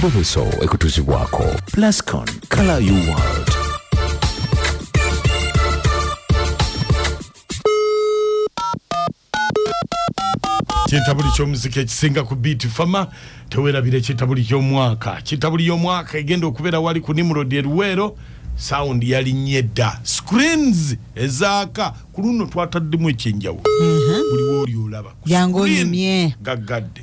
Bubeso ekutuzibwako Plascon Color You World. kyetabuli kyomuzika ekisinga ku beat fama tewerabira ekyetabuli kyomwaka kyetabuli yomwaka egenda okubeera wali ku nimrod eruweero sound yalinye dda screens ezaaka ku luno twataddemu ekyenjawulo buli wooli olaba ku screen gaggadde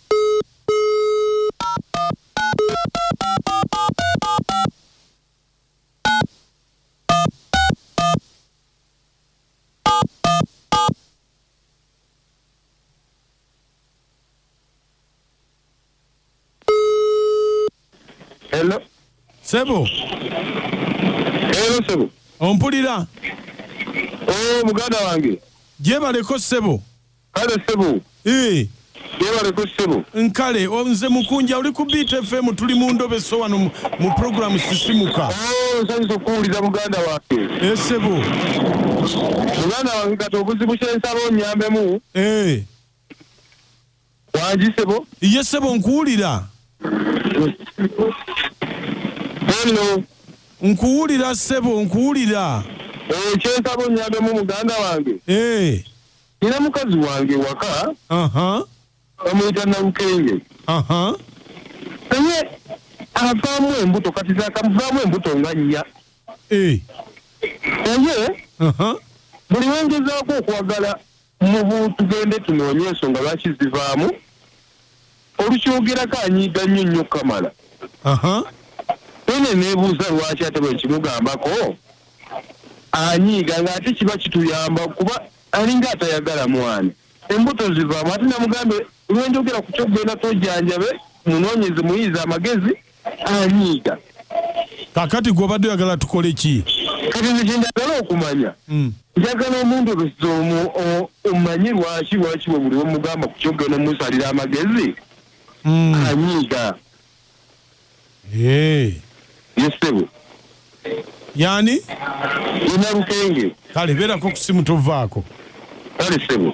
Hello. Sebo. Hello sebo. Ompulira. Oh, muganda wange. Gyebaleko sebo. kale ssebo Ii. yebaleko ssebo nkale o- nze mukunja oli ku beat fm tuli mu ndobe so wano mu- mu programu sisimuka Oh, nsanyusa okuwulira muganda wange Eh, ssebo muganda wange kati obuzibu kyensaba onyambemu Eh. wangi ssebo ye ssebo nkuwulira hello nkuwulira ssebo nkuwulira Oh, kyensaba onyambemu muganda wange Eh. Nina mukazi wange waka bamuyita Nalukenge naye avaamu embuto kati zakamuvaamu embuto nga nnya eh. naye buli wengezaako okwagala mubu tugende tunoonye ensonga lwaki zivaamu Olukyogerako anyiiga nnyo nnyo Kamala. Ene nebuuza lwaki ate bwekimugambako anyiiga nga ate kiba kituyamba kuba alinga atayagala mwana embuto zivaamu ate namugambe lwenjogera ku kyokugenda twejanjabe munonyeze muyiize amagezi anyiiga kakati gwobadde oyagala tukole ki kati nekyendagala okumanya hmm. njagala omundobesa omu omanye lwaki lwaki webuli omugamba ku kyogenda musalira amagezi hmm. anyiiga yesebo Yani? Ye Nalukenge. Kale beerako ku simu tovaako. Kale ssebo.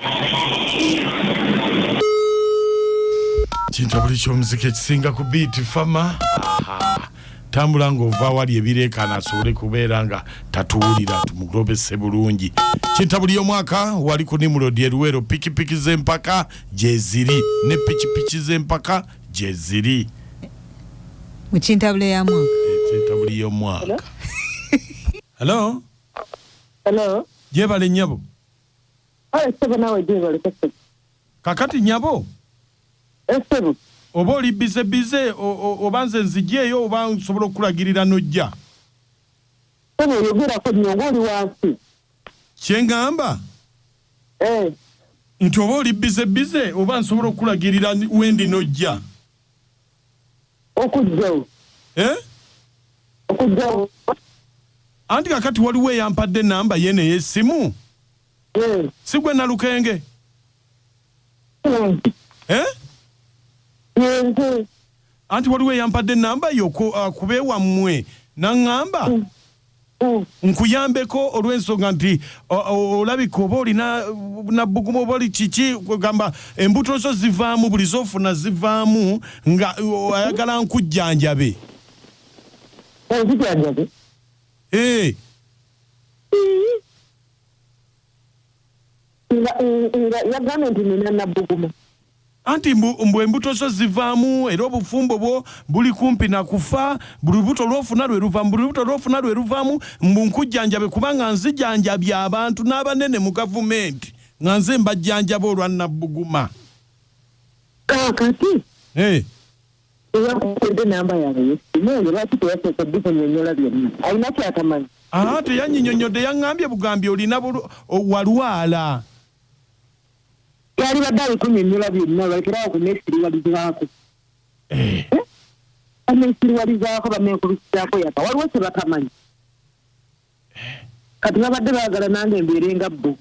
Kintabuli ky'omuziki ekisinga ku biiti fama. Tambula ng'ova awali ebireekaana asobole kubeera nga tatuwulira tumugobese bulungi. Kintabuli y'omwaka wali ku Nimrod e Luweero pikipiki z'empaka gyeziri ne pikipiki z'empaka gyeziri mu kintabula ya mwaka kintabuli y'omwaka hello Hello. gyebale nyabo Kale ssebo naawe gyebale kasebo. kakati nyabo Essebo. oba oli bize bize o- o- oba nze nzigyeyo oba nsobola okukulagirira n'ojja Ssebo oyogerako nnyo ng'oli wansi. kyengamba eh. nti oba oli bize bize oba nsobola okulagirira wendi nojja okujjawo eh? okujjawo anti kakati waliwo eyampadde enamba ye neyesimu eh. sigwe nalukenge Eh? anti waliwo eyampadde enamba yo ku- ah, ku bewammwe naŋŋamba nkuyambeko olw'ensonga nti o- o- olabika oba olina nabbugumu oba oli kiki kwegamba embuto zo zivaamu buli zofuna zivaamu nga o- ayagala nkujjanjabe Onzijanjabe? Eh, nga nga yagambye nti nina nabbuguma anti mbu mbu embuto zo zivaamu era obufumbo bwo buli kumpi na kufa buli lubuto lwofuna lwe luvaamu buli lubuto lwofuna lwe luvaamu mbu nkujjanjabe kubanga nzijanjabye abantu n'abanene mu gavumenti nga nze mbajjanjaba olwa nabbuguma kaakati hey. teyakukedde namba yaabwe yesimu oyo lwaki teyasooka obikunyonyola byonna alina kyatamanyi Aa teyanyinyonyodde yangambye bugambi olina bulu walwala. Yalibadde abikunyonyola byonna balekere awo kunesiriwalizaako. Eh. Banesiriwalizaako banenkubisaako yaka waliwo kyebatamanyi. kati babadde baagala nange mbeere nga bbo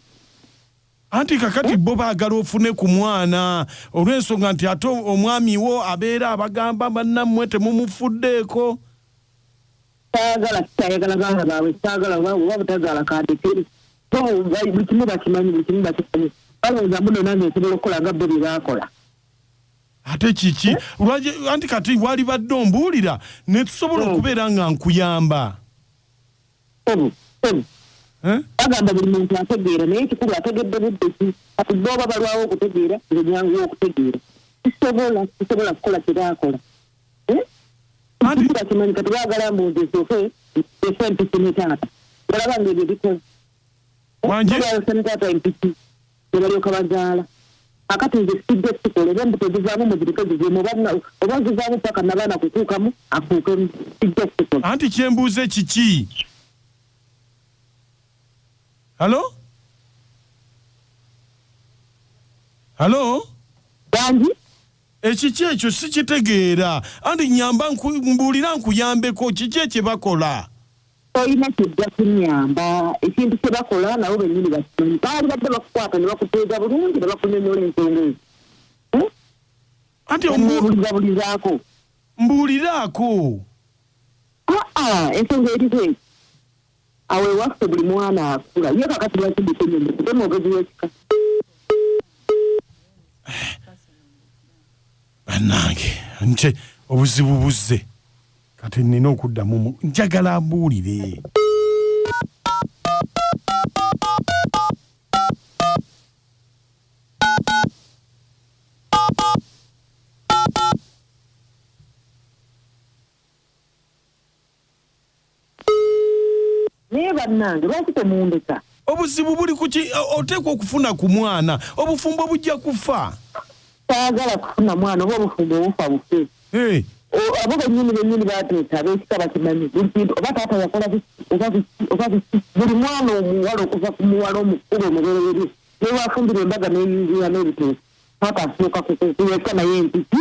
anti kakati bo baagala ofune ku mwana olw'ensonga nti ate omwami wo abeera abagamba bannammwe temumufuddeeko saagala kitayagala baana baabwe saagala oba butazaala kandekere buli kimu bakimanyi buli kimu bakimanyi balowooza muno nange nsobola okukola nga bo bye baakola ate kiki anti kati walibadde ombuulira ne tusobola hmm. okubeera nga nkuyamba bagamba buli muntu ategeera naye kikulu ategedde budde ki kati booba balwawo okutegeera nze nyanguwa okutegeera kisobola kisobola kukola kyebaakola kikula kimanyi kati baagala mbuuzi esooke ese empisi ne taata olaba nga ebyo bikoze wangi taata empisi ne balyoka bazaala kakati nze sijja kukikola oba embuto zivaamu muzirike zivemu oba zivaamu paka nabaana kukuukamu akuukemu sijja kukikola anti kyembuuze kiki halo halo bangi ekiki ekyo sikitegeera anti nyamba mbuulira nkuyambeko kiki ekyebakola tolina kijja kunyamba ekintu kye bakola nabo bennyini bakimanyi baali badde bakukwata ne bakuteega bulungi ne bakunyonyola ensonga ezo hmm? anti omubulizabulizaako mbuuliraako aa ensonga eriko eki awo ewaffe buli mwana akula ye kakati lwaki ndikunyonyo kuba omwogezi w'ekika bannange nte obuzibu buzze kati nina okuddamu njagala mbuulire naye bannange lwaki temundeka obuzibu buli kuki oteekwa okufuna ku mwana obufumbo bujja kufa saagala kufuna mwana oba obufumbo obufa bufe eh. abo benyini benyini bateesa abekika bakimanyi buli kintu oba taata yakola oba biki buli mwana omuwala okuva ku muwala omukulu omubereberye newafumbira embaga neyingira n'ebiteesa taata asooka kukuyesa naye empiki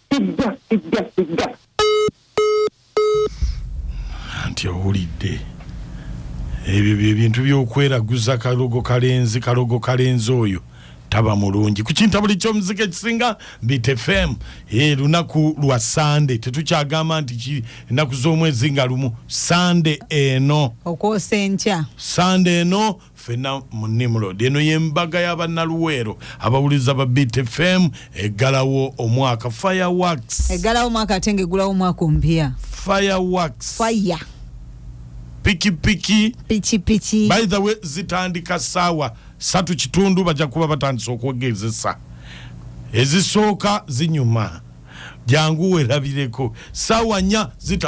Sijja, sijja, sijja. Anti owulidde. Ebyo bye bintu by'okweraguza kalogo kalenzi kalogo kalenzi oyo taba mulungi ku kintabuli ky'omuzika ekisinga Bite FM e, lunaku lwa Sande tetukyagamba nti ennaku z'omwezi nga lumu Sande eno okwosa enkya Sande eno ffenna mu nimrod eno yembaga y'abannaluweero abawuliza ba btfm eggalawo omwaka fireworks eggalawo omwaka ate nga eggulawo omwaka ompya fireworks fire pikipiki pikipiki by the way zitandika saawa satu kitundu bajja kuba batandise okwegezesa ezisooka zinyuma jangu werabireko saawa nya zitandika